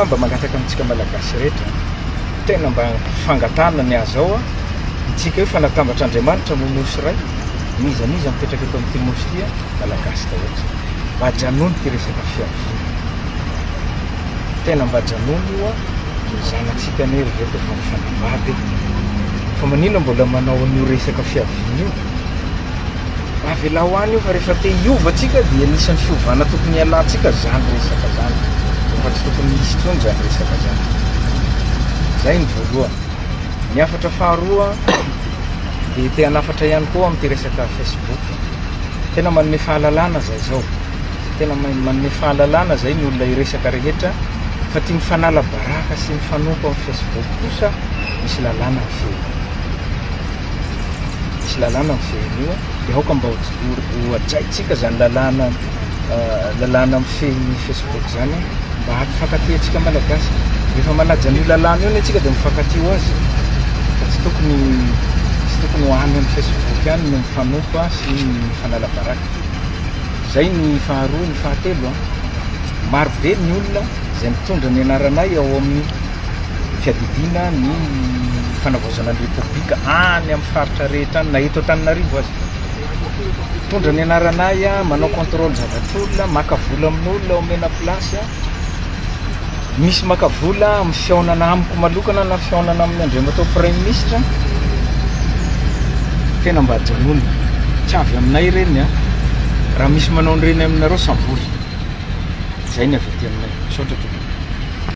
Mba mangataka amintsika Malagasy rehetra, tena mba fangatahana ny azao an, itsika io fa natambatra Andriamanitra moa Nosy iray, n'iza n'iza mipetraka eto amin'ity Nosy ity an, Malagasy daholo isika, mba ajanony ity resaka fiaviana ity, tena mba ajanony io an, ny zanatsika anie ry reto efa mifanambady e, fa maninona mbola manao an'io resaka fiaviana io? Avelao any io fa rehefa te hiova tsika dia anisan'ny fiovana tokony hialantsika zany resaka zany fa tsy tokony hisy tsony zany resaka zany zay ny voalohany ny afatra faharoa dia te hanafatra ihany koa amin'ity resaka facebook tena manome fahalalana zay zao tena manome fahalalana zay ny olona iresaka rehetra fa tia mifanala baraka sy mifanompo amin'ny facebook kosa misy lalàna ny fiainana Misy lalàna mifehy an'io dia aoka mba hohajaintsika izany lalàna lalàna mifehy ny Facebook izany mba hampifankatia antsika Malagasy. Rehefa manaja an'io lalàna io anie antsika dia mifankatia ho azy fa tsy tokony tsy tokony ho any amin'ny Facebook ihany no mifanompo sy mifanala baraka. Izay ny faharoa, ny fahatelo, marobe ny olona izay mitondra ny anaranay ao amin'ny fiadidiana ny fanavaozana ny Repoblika any amin'ny faritra rehetra any, na eto Antananarivo aza. Mitondra ny anaranay, manao contrôle zavatr'olona, maka vola amin'olona, omena place. Misy maka vola amin'ny fihaonana amiko malokana na fihaonana amin'ny Andriamatoa Praiminisitra. Tena mba ajanony. Tsy avy aminay ireny a. Raha misy manao an'ireny aminareo, savory. Izay ny avy aty aminay. Misaotra tompoko.